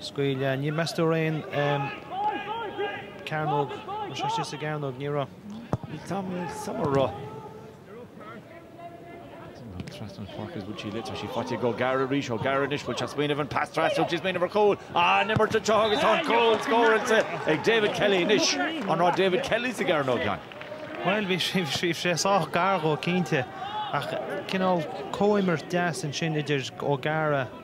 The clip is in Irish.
Scaoileadh, ní, meas tú, raibh aon chearnóg, an é sin sa gcearnóg, ní raibh. Níl Tom, níl Tom a raibh. Trasna páirce is an bhfuil sí, tá sí faighte ag Ó Gearraigh arís, Ó Gearraigh anois, bhfuil sé ag smaoineamh an pas trasna, sé ag smaoineamh ar chúl, an-imirt anseo agus tá an cúl scóráilte ag David Kelly anois, an raibh David Kelly sa gcearnóg a Sheáin? Bhuel bhí sí, bhí sé sách gar dhó cinnte ach cineál comhimirt deas ansin idir Ó Gearraigh